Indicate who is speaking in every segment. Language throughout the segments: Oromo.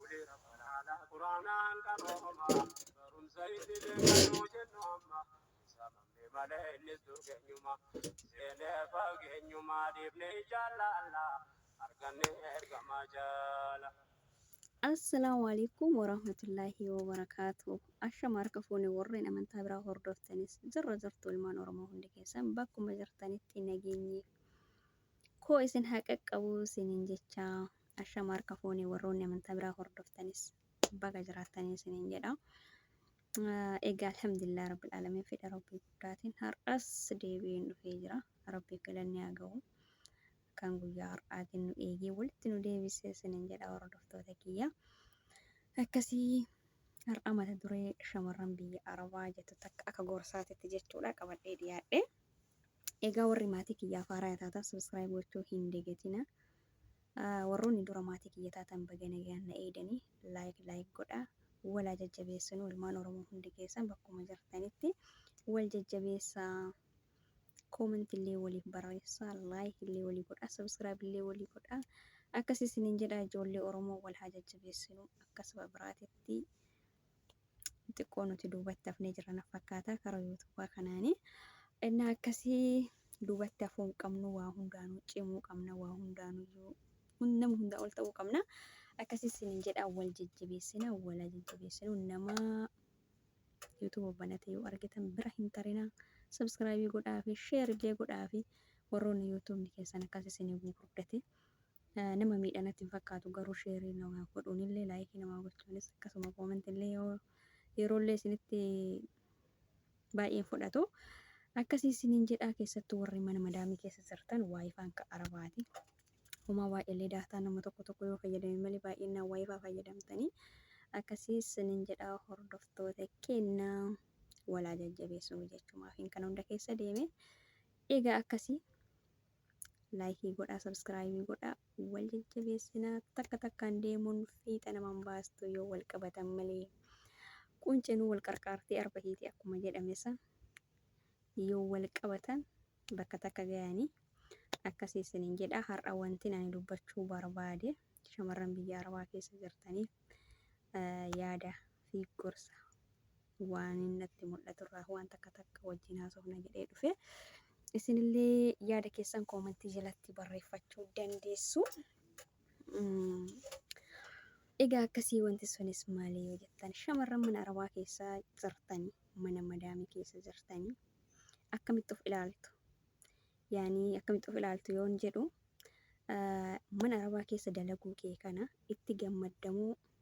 Speaker 1: Ulee Rabbana Qur'aanaan qarooma barumsa idilee kan nuu jennu amma samamne malee innis dur keenyuma seenee fageenyuma dhiifne jaalala arganne ergama jaala. Assalaamu Aleeykum Waraahmatullaahi Wabarakaatuh Ashama harka fuune warreen amantaa biraa hordoftanis jirra jirtu ilmaan Oromoo hundi keessan bakkuma jirtanitti nageenyi koo isin haa qaqqabu isiniin jechaa Ashama harka fuune warroonni amantaa biraa hordoftanis baga jiraattanii isiniin jedha. Egaa alhamdulillah rabbil alamin fedha rabbii guddaatiin har'as deebi'een dhufee jira. Rabbiif galanni haa ga'u. Kan guyyaa har'aatiin nu eegee walitti nu deebisee isiniin jedha hordoftoota kiyya. Akkasii har'a mata duree shamarran biyya Arabaa jettu takka akka gorsaatitti jechuudha qabadhee dhiyaadhe. Egaa warri maatii kiyyaaf haaraa taatan subscribe gochuu hin dagatina. Warroonni dura maatii kiyya taatan baga nagayaan na eeydanii like like godhaa wal haa jajjabeessinuu ilmaan oromoo hundi keessan bakkuma jirtanitti wal jajjabeessaa comment illee waliif barreessaa like illee walii godhaa subscribe illee walii godhaa akkas isiniin jedhaa ijoollee oromoo wal haa jajjabeessinuu akka saba biraatitti xiqqoo nuti duubatti hafnee jira na fakkaata karaa yuutuubaa kanaani. Innaa akkasii duubatti hafuu hin qabnu waa hundaanuu cimuu qabna waa hundaanuyyuu hun- nama hundaa ol ta'uu qabna. Akkasii isiniin jedhaa wal jajjabeessina wal haa jajjabeessinu nama yuutuuba banate yoo argitan bira hin tarinaa. Sabskraayibii godhaafi sheer illee godhaafi warroonni yuutuubni keessan akkas isinii gurguddate Nama miidha natti hin fakkaatu garuu sheerii namaa godhuunillee laayikii namaa gochuunis akkasuma koomentillee yoo yeroollee isinitti baay'een fudhatu akkasii isiniin jedhaa keessattuu warri mana madaamii keessa jirtan waayifaan ka arabaati homaa waa'eellee daataa nama tokko tokko yoo fayyadame malee baay'inaan waayifaa fayyadamtanii akkasii isiniin jedhaa hordoftoota kenna walaa jajjabeessuu jechumaaf hin kana hunda keessa deeme egaa akkasii Laayikii godhaa sabskraayibii godhaa wal jajjabeessinaa takka takkaan deemuun fiixa naman baastu yoo wal qabatan malee qunceenuu wal qarqaartii arba hiiti akkuma jedhame san yoo wal qabatan bakka takka gayanii akkasii isinin jedhaa har'a wantin ani dubbachuu barbaade shamarran biyya arabaa keessa jirtaniif yaada fi gorsa Waanin natti mul'atu irraa waan takka takka wajjin haasofna jedhee dhufe. Isinillee yaada keessan koomantii jalatti barreeffachuu dandeessu. Mm, Egaa akkasii wanti sunis maali yoo jettan shamarran mana arabaa keessa jirtanii mana madaamii keessa jirtanii akkamitti of ilaaltu? Yaanii akkamitti of ilaaltu yoon jedhu ah, mana arabaa keessa dalaguu kee kana itti gammaddamuu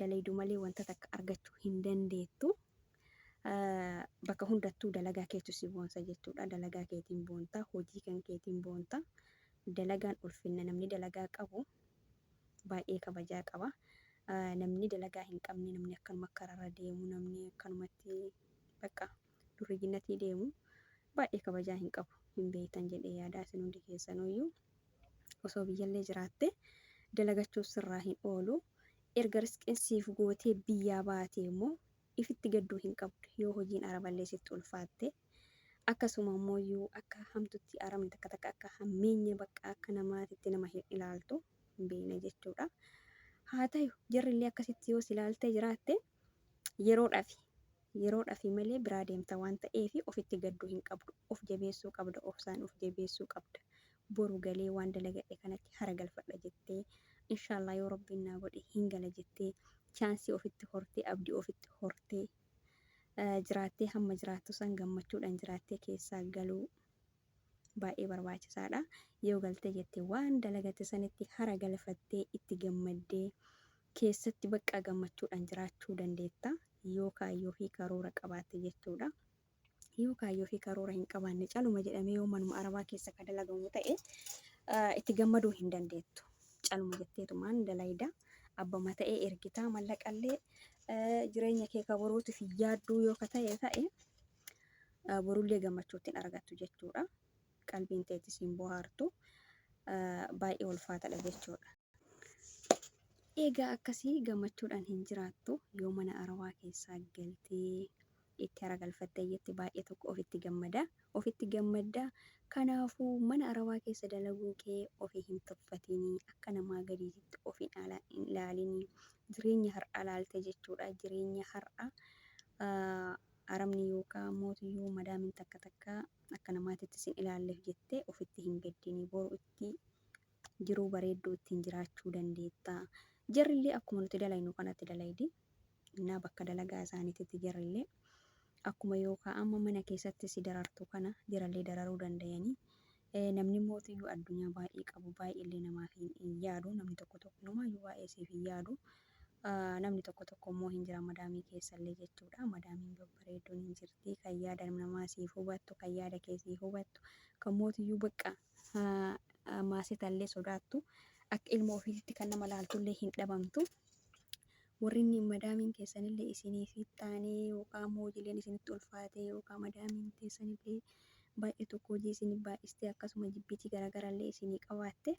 Speaker 1: dalaydu malee wanta takka argachuu hin dandeettu. Bakka hundattuu dalagaa keetu si boonsa jechuudha. Dalagaa keetiin boonta, hojii kan keetiin boonta. Dalagaan ulfinna namni dalagaa qabu baay'ee kabajaa qaba. Namni dalagaa hin qabne namni akkanuma kararra deemu namni akkanumatti bakka durriyyinnatii deemu baay'ee kabajaa hin qabu. Hin beektan jedhee yaadaa isin hundi keessanuyyuu. Osoo biyyallee jiraatte dalagachuun sirraa hin oolu. Erga risqiin siif gootee biyyaa baatee immoo ifitti gadduu hin qabdu yoo hojiin araballee sitti ulfaatte. Akkasuma immooyyuu akka hamtutti arabni takka takka akka hammeenya bakka akka namaatitti nama hin ilaaltu hin beekne jechuudha. Haa tayu jarrillee akkasitti yoo si ilaaltee jiraatte Yeroodhafi. Yeroodhafi malee biraa deemta waan ta'eefi ofitti gadduu hin qabdu. Of jabeessuu qabda. Obsaan of jabeessuu qabda. Boru galee waan dalagadhe kanatti hara galfadha jettee, inshaallaa yoo Rabbiin naa godhe hin gala jettee, chaansii ofitti hortee, abdii ofitti hortee, jiraattee hamma jiraattu san gammachuudhan jiraattee keessaa galuu. baay'ee barbaachisaadha. Yoo galtee jette waan dalagatte sanitti hara galfattee itti gammaddee keessatti baqqa gammachuudhaan jiraachuu dandeetta. Yoo kaayyoo fi karoora qabaatte jechuudha. Yoo kaayyoo fi karoora hin qabaanne caluma jedhamee yoo manuma arabaa keessa ka dalagamu ta'e ah, itti gammaduu hin dandeettu. Caluma jetteetumaan dalayda. Abbama ta'ee ergitaa mallaqallee eh, jireenya kee ka boruutiif yaadduu yoo ka ta'e ta'e Borullee gammachuu ittiin argattu jechuudha. Qalbiin
Speaker 2: teetti siin bohaartu baay'ee ulfaatadha jechuudha. Egaa akkasii gammachuudhaan hin jiraattu yoo mana arawaa keessaa galtee itti haragalfattee jetti baay'ee tokko ofitti gammada. Ofitti gammadda. Kanaafuu mana arawaa keessa dalaguu kee ofii hin tuffatinii akka namaa gadiititti of hin ala- hin ilaalinii jireenya har'aa ilaaltee jechuudha. Jireenya har'aa ah, Arabni yookaa mootiyyuu madaamin takka takka akka namaatitti sin ilaalleef jettee ofitti hin gaddini. Boru itti jiruu bareedduu ittiin jiraachuu dandeetta. Jarrillee akkuma nuti dalaynu kanatti dalaydi. Innaa bakka dalagaa isaaniititti jarrillee akkuma yookaa amma mana keessatti si darartu kana jarallee dararuu dandayanii. Namni mootiyyuu addunyaa baay'ee qabu baay'eellee namaaf hin yaadu. Namni tokko tokko inumaayyuu baay'ee siif hin yaadu. Namni tokko tokko immoo hin jira madaamii keessallee jechuudha. Madaamiin babbareedduun hin jirti. Kan yaada namaa siif hubattu, kan yaada kee siif hubattu, kan mootiyyuu bakka maasetallee sodaattu akka ilma ofiititti kan nama laaltullee hin dhabamtu. Worrinni madaamiin teessanillee isiniif taanee yookaan ammoo hojiileen isinitti ulfaatee yookaan madaamiin teessanillee baay'ee tokko hojii isiniif baay'istee akkasuma jibbitii garaagaraallee isinii qabaatte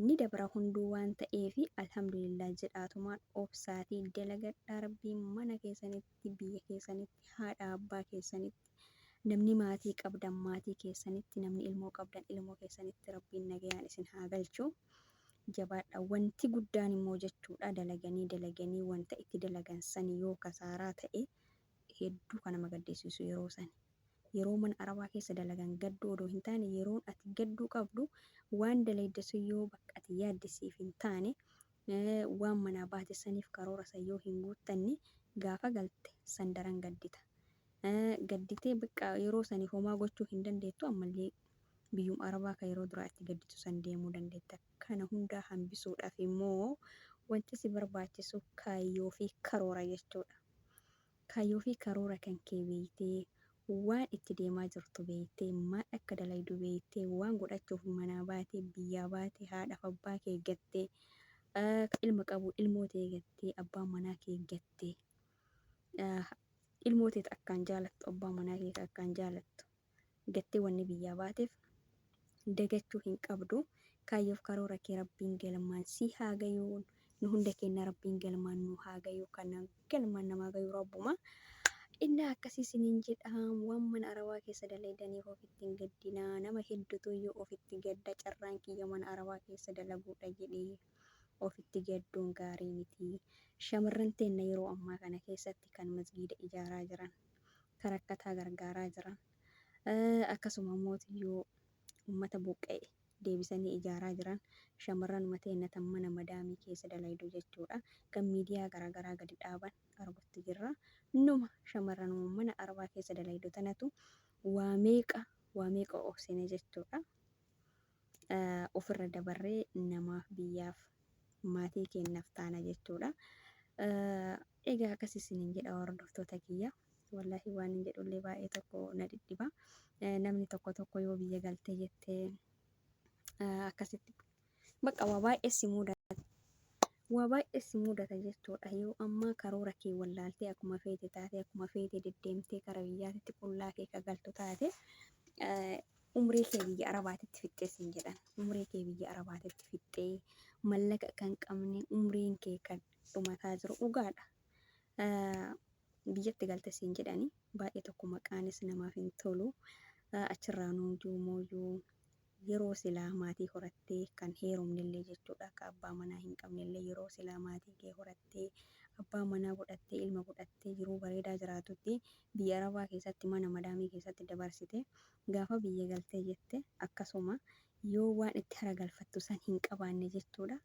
Speaker 2: ni dabra hunduu waan ta'eef alhamdulillah jedhaatumaan obsaatii dalagadhaa rabbiin mana keessanitti biyya keessanitti haadha abbaa keessanitti namni maatii qabdan maatii keessanitti namni ilmoo qabdan ilmoo keessanitti rabbiin nagayaan isin haa galchu Jabaadhaa. Wanti guddaan immoo jechuudha dalaganii dalaganii wanta itti dalagan sani yoo kasaaraa ta'e hedduu kan nama gaddisiisu yeroo sani. Yeroo mana arabaa keessa dalagan gadduu odoo hin taane yeroon ati gadduu qabdu waan dalayde sun yoo bakka ati yaadde siif hin taane waan manaa baate saniif karoora san yoo hin guuttanne gaafa galte san daran gaddita. Gadditee bakka yeroo sani homaa gochuu hin dandeettu ammallee biyyuma Arabaa ka yeroo duraa itti gadditu san deemuu dandeetta. Kana hundaa hambisuudhaaf immoo wanti si barbaachisu kaayyoo fi karoora jechuudha. Kaayyoo fi karoora kan kee beeytee, waan itti deemaa jirtu beeytee, maal akka dalaydu beeytee, waan godhachuuf manaa baate, biyyaa baate, haadhaaf abbaa kee gattee, ka ilma qabu ilmoo tee gattee, abbaa manaa kee gattee, ilmoo tee ta akkaan jaalattu, abbaa manaa kee ka akkaan jaalattu, jettee wanni biyyaa baateef dagachuu hin qabdu. Kaayyoof karoora kee Rabbiin galmaan si haa gayu. Nu hunda keenna Rabbiin galmaan nu haa gayu. Kan galmaan namaa gayu Rabbuma. Innaa akkasii isiniin jedhaam waan mana Arabaa keessa dalaydaniif ofitti hin gaddinaa. Nama heddutuyyuu ofitti gadda carraan kiyya mana Arabaa keessa dalaguudha jedhee ofitti gadduun gaarii miti. Shamarran teenna yeroo ammaa kana keessatti kan masgiida ijaaraa jiran. ka rakkataa gargaaraa jiran, akkasuma mootiyyuu ummata buqqa'e deebisanii ijaaraa jiran, shamarranuma teenna tan mana madaamii keessa dalaydu jechuu dha, kan miidiyaa garaagaraa gadi dhaaban argutti jirra. Numa shamarranuma mana arbaa keessa dalaydu tanatu waa meeqa waa meeqa obsine jechuu dha. ofirra dabarree namaaf, biyyaaf, maatii keennaf taana jechuudha. Egaa akkas isiniin jedha hordoftoota kiyya. Wallaahi waan hin jedhullee baay'ee tokko na dhidhiba. Namni tokko tokko yoo biyya galtee jettee akkasitti bakka waa baay'ee si mudata. Waa baay'ee si mudata jechuudha. Yoo ammaa karoora kee wallaaltee akkuma feete taate akkuma feete deddeemtee kara biyyaatitti qullaa kee ka galtu taate umrii kee biyya arabaatitti fixxee siin jedhan umrii kee biyya arabaatitti fixxee mallaqa kan qabne umriin kee kan dhumataa jiru dhugaadha biyyatti galte siin jedhani baay'ee tokko maqaanis namaaf hin tolu achirraa nuujuu mooyyuu yeroo silaa maatii horattee kan heerumnillee jechuudha akka abbaa manaa hin qabnellee yeroo silaa maatii kee horattee abbaa manaa godhattee ilma godhattee jiruu bareedaa jiraatutti biyya arabaa keessatti mana madaamii keessatti dabarsite gaafa biyya galtee jette akkasuma yoo waan itti haragalfattu san hin qabaanne jechuudha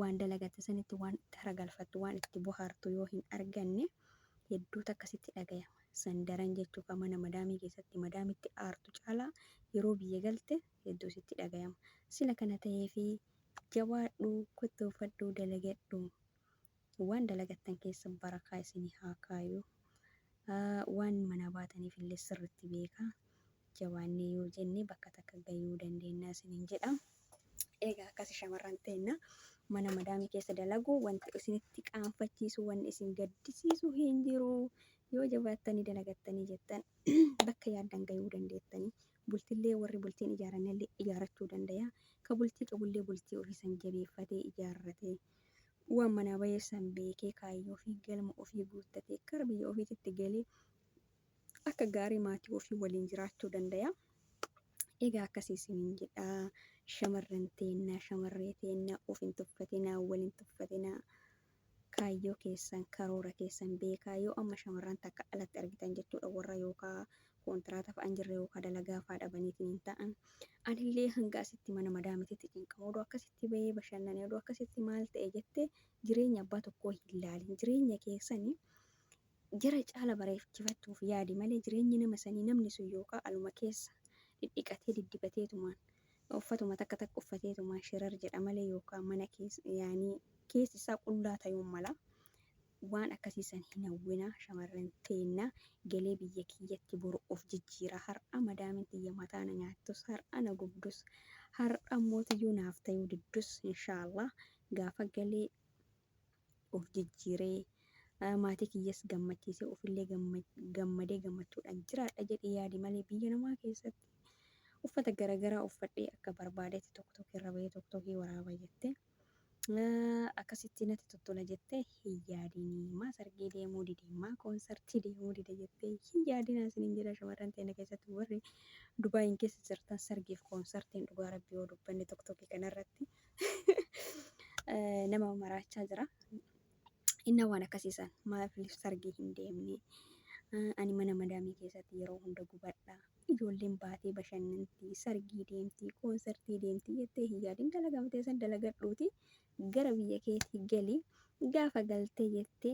Speaker 2: waan dalagatte sanitti waan itti haragalfattu waan itti bohaartu yoo hin arganne hedduu takka sitti dhagayama san daran jechuu ka mana madaamii keessatti madaamitti aartu caalaa yeroo biyya galte hedduu sitti dhagayama sila kana taheefi jabaadhu kottoofadhu dalagadhu Waan dalagattan keessa barakaa isinii haa kaayu. Waan manaa baataniif illee sirritti beeka. Jabaannee yoo jenne bakka takka gayuu dandeenna isiniin jedha. Eegaa akkasi shamarran teenna mana madaamii keessa dalagu wanti isinitti qaanfachiisu wanni isin gaddisiisu hin jiru. Yoo jabaattanii dalagattanii jettan bakka yaaddan gayuu dandeettanii. Bultillee warri bultiin ijaarannellee ijaarachuu dandaya. Ka bultii qabullee bultii ofii san jabeeffatee ijaarratee waan manaa bahee san beekee kaayyoo ofii galma ofii guuttatee gara biyya ofiititti galee akka gaarii maatii ofii waliin jiraachuu dandaya. Egaa akkasii isiniin jedhaa shamarran teennaa shamarree teennaa of hin tuffatinaa wal hin tuffatinaa kaayyoo keessan karoora keessan beekaa yoo amma shamarran takka alatti argitan jechuudha warra yookaa Kontiraata fa'an jirre yookaan dalagaa fa'aa dhabaniitiin ta'an anillee hanga asitti mana madaamititti cinqama odoo akkasitti bahee bashannane odoo akkasitti maal ta'e jettee jireenya abbaa tokkoo hin laalin jireenya keessani jara caala bareechifachuuf yaadi malee jireenyi nama sanii namni sun yookaan aluma keessa dhidhiqatee diddibateetumaan uffatuma takka takka uffateetumaan shirar jedha malee yookaan mana keessa yaanii keessi isaa qullaa tayuun mala Waan akkasii san hin hawwinaa shamarran teenna. Galee biyya kiyyatti boru of jijjiira. Har'a madaamin tiyya mataa na nyaattus, har'a na gubdus, har'a mootiyyuu naaf tayuu diddus inshaallaah gaafa gale of jijjiiree maatii kiyyas gammachiisee ofillee gammadee gammachuudhaan jiraadha jedhii yaadi malee biyya namaa keessatti uffata garagaraa uffadhee akka barbaadetti toktokii irra bahee toktokii waraaba jettee Akkasitti natti tottola jettee hin yaadini. Maa sargii deemuu dide, maa koonsartii deemuu dide jettee hin yaadinaa isiniin jedha shamarran teenya keessatti warri Dubaayiin keessa jirtan sargiif koonsartiin dhugaa rabbii yoo dubbanne tokkokkii kanarratti nama maraachaa jira. Inna waan akkasii san maaf sargii hin deemne ani mana madaamii keessatti yeroo hunda gubadha. Ijoolleen baatee bashannanti, sargii deemti, koonsartii deemti jettee hin yaadin. Dalagama tee san dalagadhuuti gara biyya keetii gali. Gaafa galtee jettee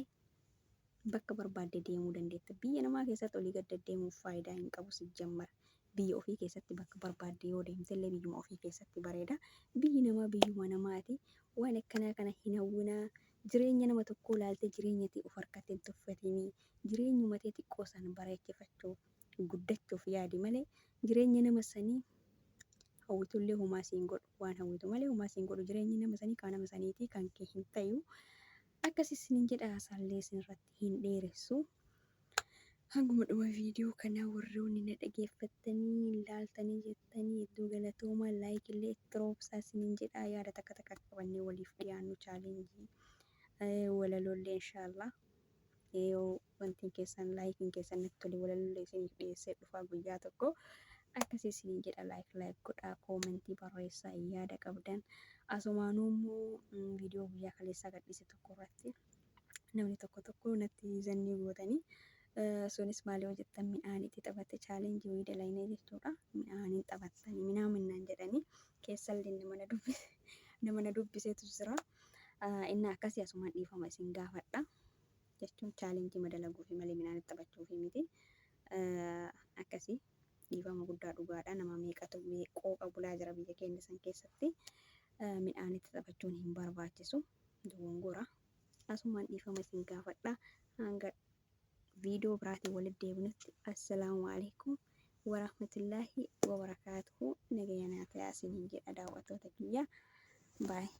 Speaker 2: bakka barbaadde deemuu dandeetta. Biyya namaa keessatti olii gad deddeemuun faayidaa hin qabu sijjammara. Biyya ofii keessatti bakka barbaadde yoo deemtellee biyyuma ofii keessatti bareeda. Biyyi namaa biyyuma namaati. Waan akkanaa kana hin hawwinaa. Jireenya nama tokkoo laaltee jireenya tee of harkatti hin tuffatinii. Jireenyuma tee xiqqoo san bareechifachuuf. guddachuuf yaadi malee jireenya nama sanii hawwitullee homaa siin godhu waan hawwitu malee homaa siin godhu jireenyi nama sanii kaa nama saniitii kan kee hin tayu akkasi isinin jedha haasaallee isinirratti hin dheeressu hanguma dhuma viidiyoo kanaa warroonni na dhageeffattanii hin laaltanii jettanii hedduu galatoomaa laayikillee itti roobsaa isinin jedha yaada takka takka akka qabannee waliif dhiyaannu chaalenjii walalollee inshaallah yoo wantiin keessan laayikiin keessan natti tole walaloolee isiniif dhiyeessee dhufaa guyyaa tokko akkasii isiniin jedha laayik laayik godhaa koomentii barreessaa yaada qabdan asumaanuu immoo viidiyoo guyyaa kaleessaa gadhiise tokko irratti namni tokko tokko natti zannii gootanii sunis maal yoo jettan midhaan itti taphatte chaalenjii wayii dalaynee jechuudha midhaaniin taphattanii minaa minnaan jedhanii keessallee nama na dubbise nama na dubbiseetu jira. Inni akkasii asumaan dhiifama isin gaafadha. jechuun challenge ma dalaguufi malee midhaan taphachuufi miti akkasi dhiifama guddaa dhugaadha nama meeqatu qooqa bulaa jira biyya keenya san keessatti midhaanitti taphachuun hin barbaachisu dogongora asumaan dhiifama isin gaafadha hanga viidiyoo biraatiin walitti deebinutti assalaamu alaikum warahmatullaahi wabarakaatuhu nagayanaatayaa isiniin jedha daawwattoota kiyya baay'ee